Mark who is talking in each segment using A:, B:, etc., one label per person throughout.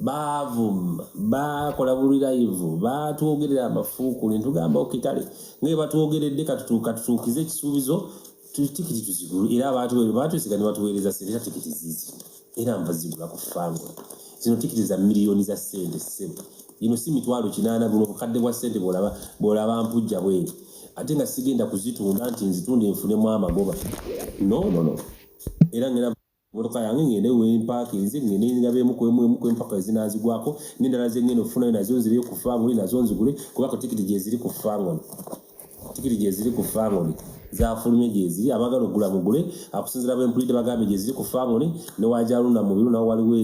A: baavuma baakola bulirayivu baatwogerera amafuukule ntugamba okitale ngaye batwogeredde katutuukize ekisuubizo tikiti tuzigulu era baatwesiga ne batuweereza sente era tikiti zizi era nva zigula ku fango zino tikiti za miliyoni za sente sente ino si mitwalo kinaana buno bukadde bwa sente bwolaba mpujja bweri ate nga sigenda kuzitunda nti nzitunde nfunemu amagoba nonono era ngera emmotoka yange ngende wempakinze ngende ngabeemu kwemu emu kwempaka ezinaazigwako n'endala ze ngenda okufunayo nazo nzire ku fangoni nazo nzigule kubako tikiti gyeziri ku fangoni tikiti gyeziri ku fangoni zafulumye gyeziri abagala okugula mugule akusinzira bempulidde bagambye gyeziri ku fangoni newajalunda mubiru nawo waliwo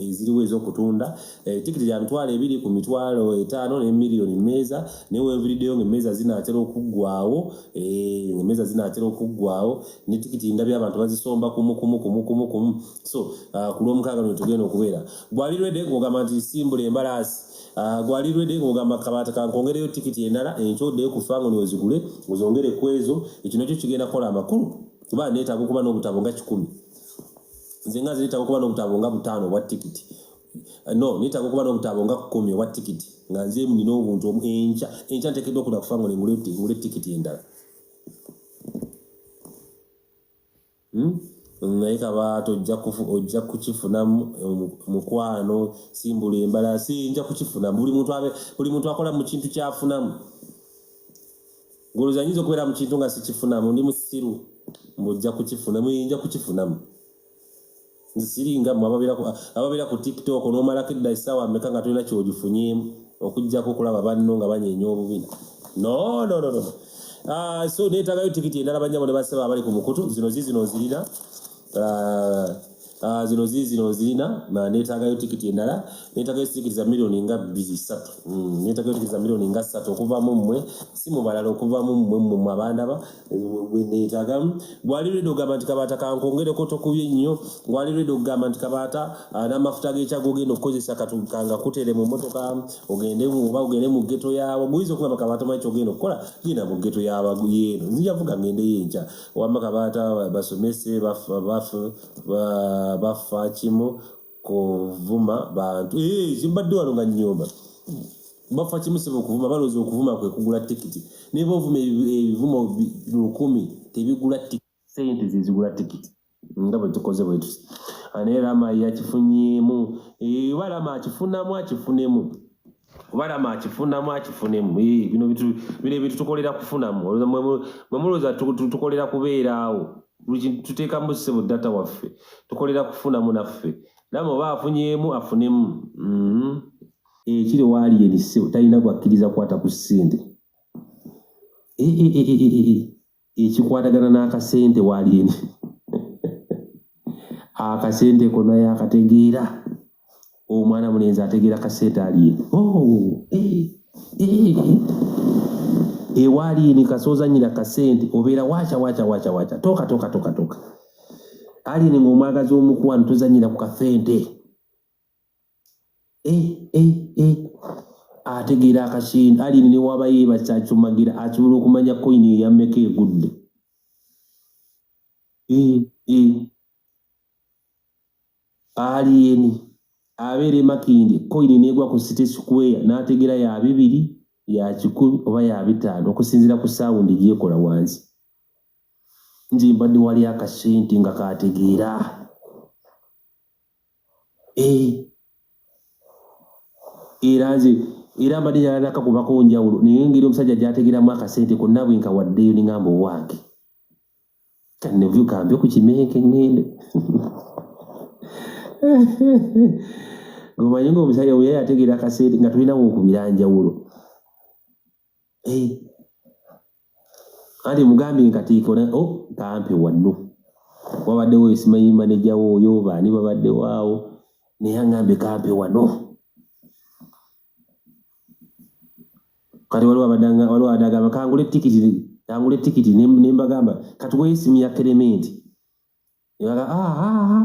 A: eziriwo ezokutunda eh, tikiti gya mitwalo ebiri ku mitwalo etaano ne miliyoni mmeeza newenviriddeyo ngaemmeeza zinaatera okuggwawo eh, ngaemmeeza zinaatera okuggwawo ne tikiti ndabye abantu bazisomba kumu kumu kumu kumu kumu so uh, ku lwomukaaga lwe tugenda okubeera gwali rwede ng'ogamba nti simbula embalaasi uh, gwali rwede ng'ogamba kabaata kankongereyo tikiti endala enkyo oddeyo ku fango niwezigule ozongere ku ezo ekyo nakyo kigenda kukola amakulu kuba neetaaga okuba n'obutabo nga kikumi nze nga nze neetaaga okuba n'obutabo nga butaano obwa tikiti uh, no neetaaga okuba n'obutabo nga kumi obwa tikiti nga nze nina obuntu enkya enkya ntekeddwa okuda kufango nengule tikiti endala hmm? naye kabaata ojja kukifuna mukwano simbula embala siyinja kukifuna buli muntu akola mu kintu kyafunamu ngoloza nyinza okubeera mu kintu nga sikifunamu ndi musiru mbu ojja kukifuna muyinja kukifunamu nsiringa mwe ababeera ku tiktok nomalako edda esaawa meka nga tolina kyogifunyemu okujjako okulaba banno nga banyenya obubina nononono ah, so netagayo tikiti endala banyabo ne basaba abali ku mukutu zino zizino nzirina ah, ah, zino zizino nzirina netagayo tikiti endala netagayo tikiti za milioni nga bisatu mm, netagayo tikiti za milioni nga satu okuvamu mmwe si mubalala okuvamu mmwe mmwe abandaba neyitagamu gwali lwedde ogamba nti kabaata kankongereko tokubye nnyo gwali lwedde okugamba nti kabaata ah, n'amafuta g'ekyago ogenda okukozesa katukanga kutere mu motoka ogende oba ogende mu geto yaabo guyinza okugamba kabaata omanyi kyogenda okukola genda mu geto yabayeeno nzija vuga ngende yo enkya wamma kabaata basomese bafa kimu kuvuma bantu eh, zimbadde wano nga nyomba bafa kimu sebo kuvuma baloza okuvuma kwe kugula tikiti naye bovuma ebivumo lukumi tebigula sente zezigula tikiti nga bwe tukoze bwe tusi anaye rama yakifunyemu eh, oba rama akifunamu akifunemu kuba rama akifunamu akifunemu bino ebintu tukolera kufunamu mwemulowooza tukolera kubeeraawo tuteekamu sebo data waffe tukolera kufunamu naffe rama oba afunyemu afunemu mm-hmm. ekiri eh, waali erisebo talina gwakkiriza kukwata ku ssente eh, eh, ekikwatagana n'akasente waalyendi akasente kona yakategeera omwana mulenzi ategeera kasente alye oh, eh, eh, eh. ewaalini kasooza nyina kasente obeera wacha wacha wacha wacha toka toka toka toka alini ngaomwagazi omukwano tozanyira ku kasente eh, eh, eh. ategeera akasindi alini newaba yeeba kyacumagira asobola okumanya koyini eyammeka egudde eh, eh. aliyeni abeera emakindi koyini negwa ku city square n'ategeera ya bibiri ya kikumi oba ya bitaano okusinziira ku saawundi gyekola wansi nze mbadde wali akasente nga kategeera eh. era nze era mbadde nyalanaka kubako njawulo naye engeri omusajja gyategeramu akasente konna bwe nkawaddeyo ningamba owange kanevyu kambe ku kimenke ngende omanyi ngaomusajja weyayategeera akasente nga tulinawo okubira njawulo eh. kale mugambye nkatiiko o oh, kampe wanno wabaddewo esimanyi maneja wo oyo baani babaddewo awo naye angambye kampe wano kati waliwo abadanga waliwo adagamba kangula etikiti kangula etikiti nembagamba kati wesimu ya kerementi yala ah, ah, ah,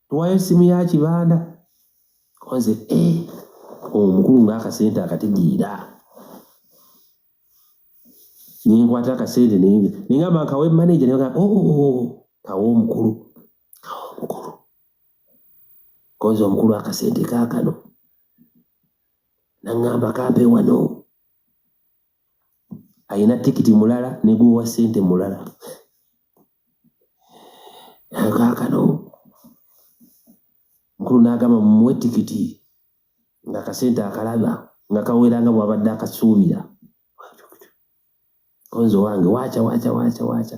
A: tuwayo esimu ya kibanda konze eh, omukulu ngaakasente akatigiira nenkwata akasente nengamba nkawe maneja nega oh, oh, oh, kawe omukulu kawe omukulu konze omukulu akasente kakano nangamba kampe wano alina tikiti mulala negwowa sente mulala kakano mukulu nagamba mumuwe tikiti nga akasente akalaba nga kawera nga bwabadde akasuubira konzo wange wacha wacha wacha wacha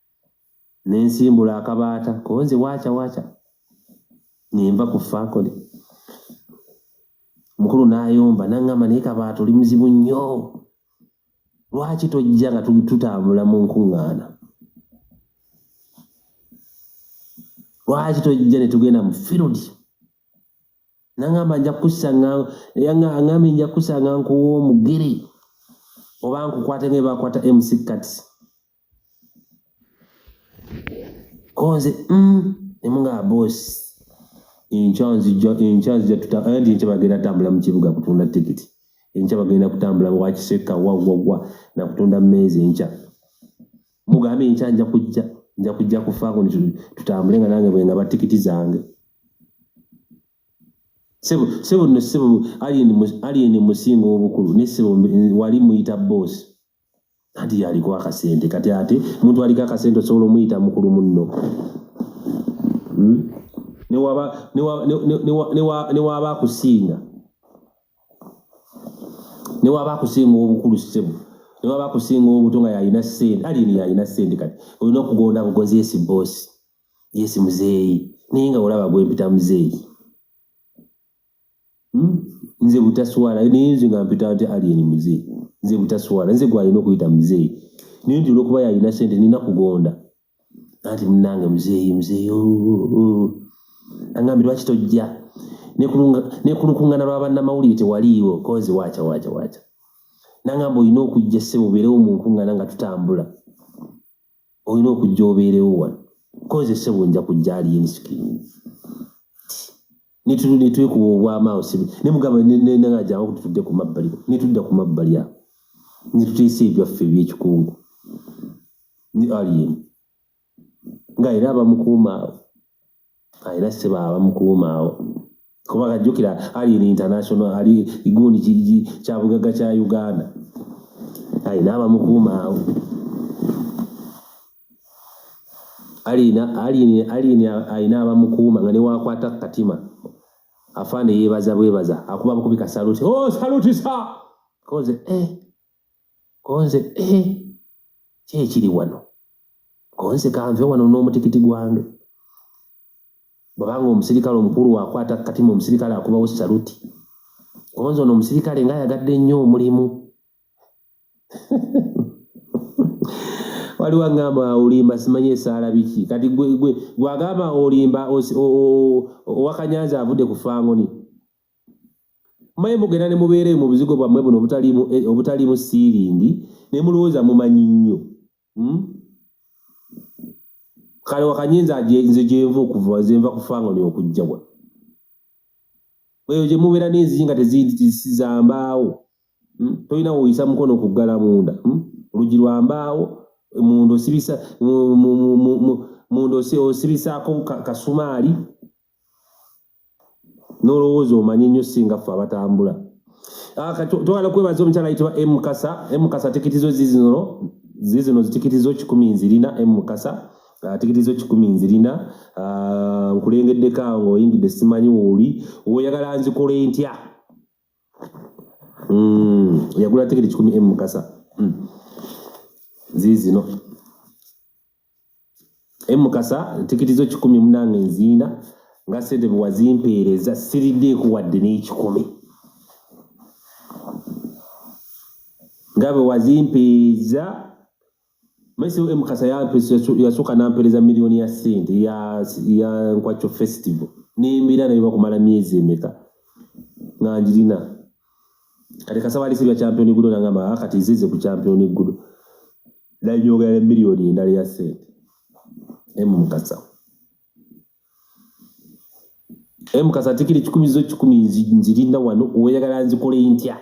A: ne nsimbula akabaata konze waaca waaca ne nva ku faakole mukulu n'ayomba n'aŋŋamba naye kabaata oli muzibu nnyo lwaki tojja nga tutambula mu nkuŋŋaana lwaki tojja ne tugenda mu firudi n'aŋŋamba nja kukusanga aŋŋambye nja kukusanga nkuwa omugere oba nkukwate nga ebakwata mc kati konze mm, emunga bosi enkya nzija enkya nzija tuta anti enkya bagenda tambula mu kibuga kutunda tikiti enkya bagenda kutambula wakiseka wawwawa nakutunda mmeeza enkya mugambe enkya nja kujja nja kujja kufaako tutambule nga nange bwenga ba tikiti zange sebo sebo no sebo alien alien musingo obukulu ne sebo wali muyita boss anti yaliko akasente kati ate omuntu aliko akasente osobola omuyita mukulu munno hmm? newaba akusinga newaba akusinga obukulu sebo newaba akusinga obuto nga yalina sente alini yalina sente kati olina okugonda bugozi yesi bosi yesi muzeeyi naye nga olaba gwempita muzeeyi hmm? nze butaswala naye nze nga mpita nti alien muzee nze butaswala nze gwalina okuyita muzee naye nti olwokuba yalina sente nina kugonda anti munange muzeeyi muzeeyi oh, oh, oh. angambi lwaki tojja nekulukungana lwabanamawulire tewaliiwo kozi waca waca waca nangamba olina okujja sebo obeerewo munkungana nga tutambula olina okujja obeerewo wano koze sebo nja kujja ali ensikini netwekuba obwamaawo sibi nemugamba nenagajawo kuti tudde ku mabbali netudda ku mabbali awo netuteesa ebyaffe ebyekikungu ne alien nga era abamukuuma awo Era sebo abamukuuma awo kuba kajjukira ali in international ali igundi kiji kya bugagga kya Uganda alina abamukuuma awo alina alina alina alina abamukuuma nga newakwata katima afaana yebaza bwebaza akuba bukubi kasaluti oh saluti sa koze eh Konze ehe ki ekiri wano konze kanve wano n'omutikiti gwange bwabanga omusirikale omukulu wakwata katima omusirikale akubawo saluti konze ono omusirikale nga ayagadde nnyo omulimu waliwo agamba olimba simanyi esaala biki kati gwagamba olimba owakanyanza avudde ku fangoni maye mugenda ne mubeera mu buzigo bwammwe buno obutaliimu eh, obutaliimu siiringi ne mulowooza mumanyi nnyo hmm? kale wakanye nze nze gyenva okuva nze nva kufanga oli okujja wa eyo gye mubeera n'enzigi nga tezizambaawo hmm? tolina woyisa mukono okuggala munda hmm? olugi lwa mbaawo munda osibisa munda osibisaako kasumaali nolowooza omanyi nnyo singa ffe abatambula ah, twagala kwebaza omukyala ayitibwa mukasa mukasa tikiti zo zizino zizino zitikiti zo kikumi nzirina mukasa ah, tikiti zo kikumi nzirina ah, nkulengeddeko awo oyingidde simanyi wooli oyagala nzikola entya hmm, yagula tikiti kikumi mukasa hmm. zizino e mukasa tikiti zo kikumi munange nziina nga sente bwewazimpeereza siriddeeko wadde n'ekikumi nga bwewazimpeereza mesi e mukasa yasooka nampeereza miliyoni ya sente ya nkwakyo festival nembeera naye bakumala myezi emeka nga ngirina kati kasaba alisiibya championi gudo nangamba ah, kati zize ku championi gudo Naye njogera ne miliyoni endala ya ssente emu mukasa emu mukasa atikira ekikumi zo kikumi nzirinda wano oyagala nzikole ntya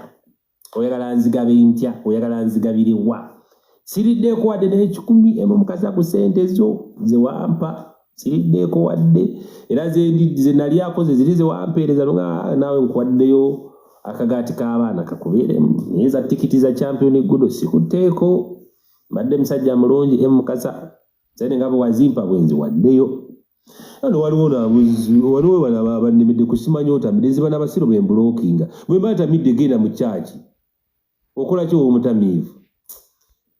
A: oyagala nzigabe ntya oyagala nzigabire wa siriddeeko wadde naye ekikumi emu mukasa ku ssente zo zewampa siriddeeko wadde era ze nali akoze ziri zewampeereza nga naawe nkuwaddeyo akagaati k'abaana kakubeeremu naye za tikiti za champion gudo sikutteeko mbadde musajja mulungi e mukasa sente nga bwewazimpa bwenzi waddeyo ano waliwo nabuzi waliwo banaba bannemedde kusimanyi otamidde ziba nabasiru bembulokinga bwemba atamidde genda mu kyaki okola ki womutamiivu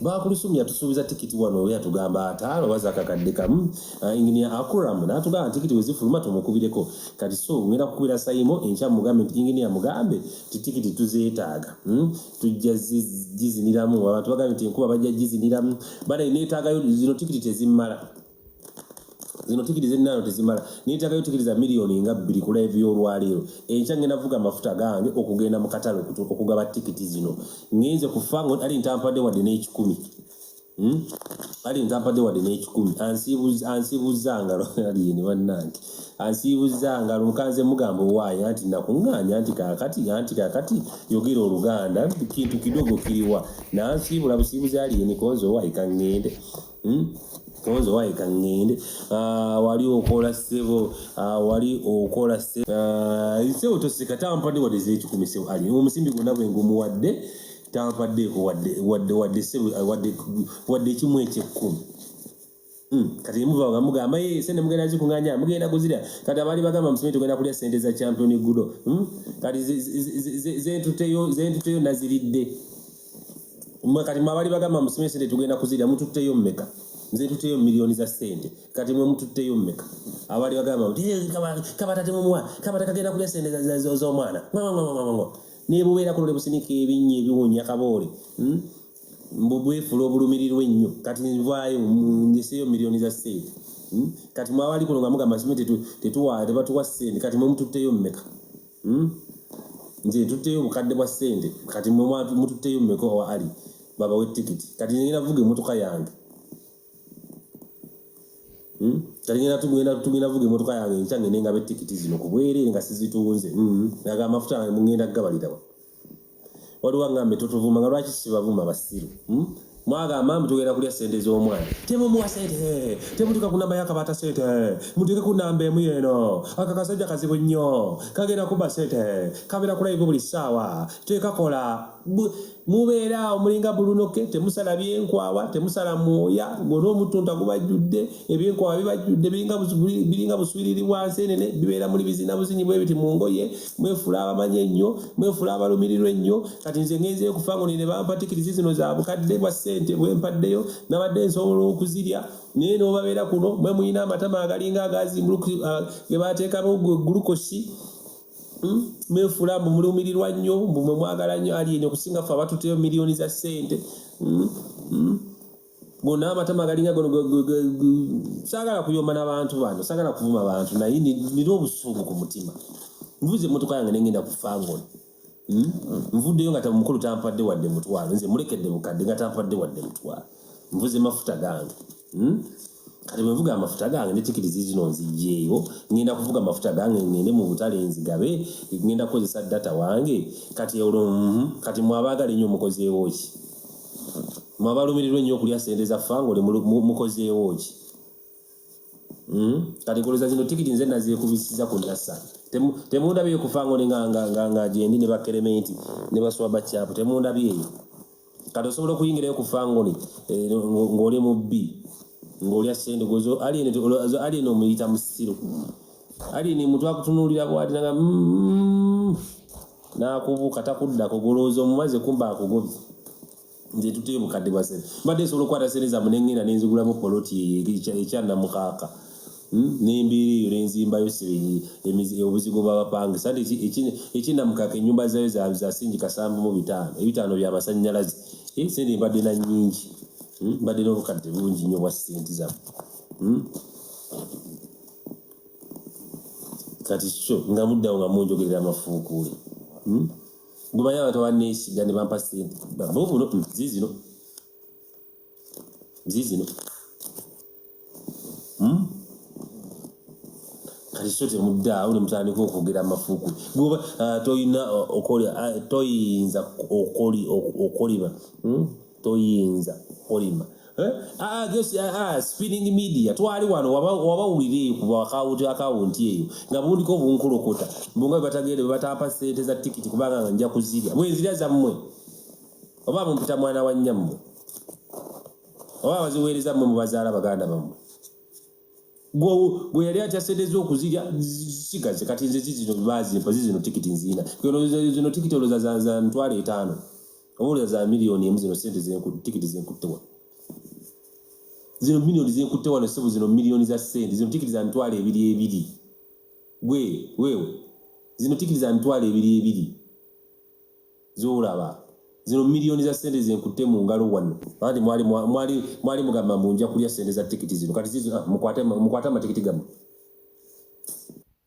A: bakulusum yatusuubiza tikiti wano oyo yatugamba ataano oba zakakadde kamu ah, enginia akuram natugamba tikiti wezifuluma tumukubireko kati so ngenda kukubira sayimo enkya mugambe nti enginia mugambe ti tikiti tuzeetaaga hmm? tujja giziniramu abantu bagambye nti enkuba bajja giziniramu banaye neetaagayo zino tikiti tezimmala zino tikiti zennaano tezimala neetagayo tikiti za miliyoni nga bbiri ku laivu y'olwaleero enkya ngenda vuga amafuta gange okugenda mu katale okugaba tikiti zino ngenze kufa ngo ali ntampadde wadde n'ekikumi hmm? ali ntampadde wadde n'ekikumi ansiibuzza ngalo aliyeni bannange ansiibuzza ngalo mukanze mugamba owaayo anti nakuŋŋaanya anti kakati anti kakati yogera oluganda kintu kidogo kiriwa nansiibula busiibuzi aliyeni konze owaayi kaŋŋende Hmm? nze wayika ŋŋende ah, wali okola ssebo ah, wali okola ssebo ah, nsebo toseka tampadde wadde zekikumi sebo ali omusimbi gwonna bwe ngumuwadde tampaddeeko wadde ssebo wadde ekimu ekyekkumi hmm, kati emuva ngamugamba ye sente mugenda zikunganya mugenda kuzirya kati abaali bagamba musome tugenda kulya sente za champion gudo hmm? kati zentuteyo naziridde mwe kati mwabali bagamba musime sente tugenda kuzira mututteyo mmeka nze tuteyo milioni za sente kati mwe mututteyo mmeka abali bagamba nti eh, kabatate mumuwa kabata kagenda kulya sente z'omwana nebubeera kuno nebusinika ebinnyi ebiwunya kaboole hmm? mbubwefula obulumirirwa ennyo kati nvaayo ndeseyo milioni za sente hmm? kati mwabali kuno nga mugamba sime tetuwa tebatuwa sente kati mwe mututteyo mmeka Hmm? nze ntutteyo obukadde bwa ssente kati mwe mututteyo mumeka owa ali babawe tikiti kati ngenda vuga emotoka yange hmm? kati ngenda tugenda vuga emotoka yange enkya ngende ngabe tikiti zino kubwereere nga sizitunze hmm? naga amafuta ngenda gabalirawa waliwo aŋŋambye totuvuma nga lwaki sibavuma basiru hmm? mwagamba mbu tugenda kulya sente z'omwana temumuwa sente eh, temutuka ku namba yakabaata sente eh, mutuke ku namba emu yeeno aka kasajja kazibu nnyo kagenda kuba sente eh, kabeera kulayivu buli ssaawa tekakola mubeera awo mulinga bulunoke temusala byenkwawa temusala mwoya ngona omutunta gubajjudde ebyenkwawa bibajjudde biringa buswiriri bwa nsenene bibeera muli bizina buzinyi bwebiti mu ngoye mwefuula abamanyi ennyo mwefuula abalumirirwa ennyo kati nze ngenzeyo kufa ngo nene bampatikirizi zino za bukadde bwa ssente bwempaddeyo nabadde nsobola okuzirya naye nobabeera kuno mwe mulina amatama agalinga agazi ah, ge bateekamu gulukosi hmm? mwefuula mbu mulumirirwa nnyo mbu mwe mwagala nnyo ali enyo okusinga fe abatuteyo miliyoni za ssente hmm? Hmm? gona amatama galinga gono sagala kuyomba nabantu bano sagala kuvuma abantu naye nina obusungu ku mutima nvuze emotoka yange nengenda kufa ngono hmm? nvuddeyo nga tamukulu tampadde wadde mutwalo nze mulekedde bukadde nga tampadde wadde mutwalo nvuze mafuta gange hmm? kati bwevuga amafuta gange netikirizi zino nzijeeyo ngenda kuvuga amafuta gange ngende mu butale nzigabe ngenda kukozesa data wange kati olwo hmm? kati mwabagala enyo omukozeewo ki mwe abalumirirwa ennyo okulya sente za fanga oli mukozeewo ki hmm? kati kuluza zino tikiti nze nazekubisiza ku nasa temundabyeyo kufanga oli nga gyendi ne bakerementi ne baswa bakyapu temundabyeyo kati osobola okuyingirayo ku fangoni eh, ng'oli mu bbi ng'olya sente gozo alien omuyita musiru alien mutu akutunuulira bwati naga mm, mm, mm. nakubuuka takuddako golowooza omumaze kumba akugobye nze tutee bukadde bwa sente mbadde nsobola okukwata sente zamu nengenda nenzigulamu poloti ekyanamukaaka hmm? nembeera eyo nenzimbayo obuzigo bwabapange sante ekyinamukaaka enyumba zayo zasingi kasanvu mu bitaano ebitaano byamasanyalaze eh, sente mbadde na nyingi hmm? mbadde nobukadde bungi nyo bwa sente zamu hmm? kati kyo nga muddawo nga munjogerera amafuukuule hmm? gumanyi abantu abaneesiga ne bampa sente bavubuno hmm, zizino zizino hmm? kati kyo temuddaawo ne mutandika okwogera amafuukuule goba ah, toyina ah, ah, toyinza okoliba toyinza kolima eh? ah, ah, ah, spinning media twali wano wabawulira eyo ku akawunti akawunti eyo nga bundiko obunkulokota mbunga bebatagere bebatampa sente za tikiti kubanga nga nja kuzirya bwenzirya zammwe oba mumpita mwana wa nnyammwe oba baziweereza mmwe mubazaala baganda bammwe gwe yali atya sente zokuzirya sigaze kati nze zizino bazimpa zizino tikiti nziina zino tikiti oloza za ntwalo etaano Obuulira za milioni emu zino sente zenkutte tikiti zenkutte wano. Zino milioni zenkutte wano ssebo zino milioni za sente zino tikiti za mitwalo ebiri ebiri. Gwe wewe zino tikiti za mitwalo ebiri ebiri z'olaba zino milioni za sente zenkutte mu ngalo wano anti mwali mwali mwali mugamba mbu nja kulya sente za tikiti zino kati zizo ah, mukwate mukwate amatikiti gamu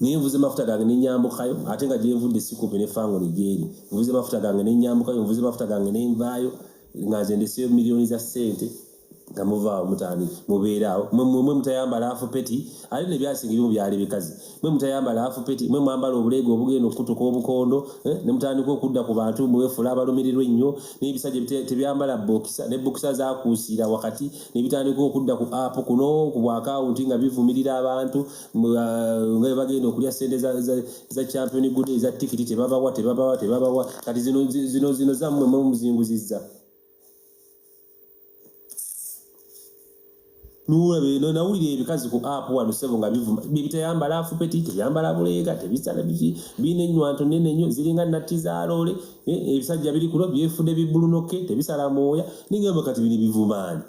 A: naye nvuze mafuta gange nenyambukayo ate nga gyenvudde sikupe ne fangoni gyeri nvuze mafuta gange nenyambukayo nvuze mafuta gange nenvaayo nga nze ndeseyo miliyoni za ssente nga muvaawo mutani mubeeraawo mwemwe mutayambala afu peti ate nebyasinga ebimu byali bikazi mwe mutayambala afu peti mwe mwambala obuleega obugenda okukutuka obukondo eh, ne mutandika okudda ku bantu mwefula abalumirirwa ennyo n'ebisajja tebyambala bokisa ne bokisa zakuusiira wakati nebitandika okudda ku app kuno ku bwakawunti nga bivumirira abantu uh, nga bagenda okulya sente za champion good eza tikiti tebabawa tebabawa tebabawa kati zino zino zammwe mumuzinguzizza nulabeno nawulira ebikazi ku app wano sebo nga bivuma bibitayambala afupeti teyambala buleega tebisala biki biina enywanto nene nyo ziringa natti zaloole Eh, ebisajja biri kuno byefude bibulunoke tebisala mwoya nigamba kati biri bivumaani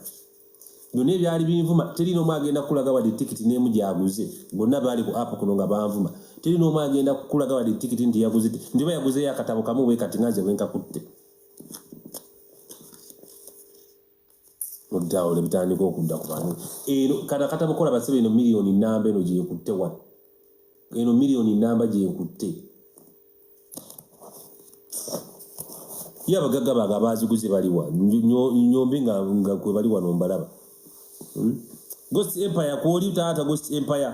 A: byonna ebyali binvuma teri n'omu agenda kukulaga wadde tikiti n'emu gyaguze bonna baali ku app kuno nga banvuma teri n'omu agenda kukulaga wadde tikiti nti yaguze nti ba yaguzeyo akatabo kamu bwe kati nganze bwenkakutte mudawule bitandika okudda ku bantu eno kata kata bukola basebe eno milioni namba eno gyekutte wa eno milioni namba gyekutte ye abagagga bange abaaziguze baliwa nyombi nga nga kwe bali wano mbalaba hmm? ghost empire kwoli taata ghost empire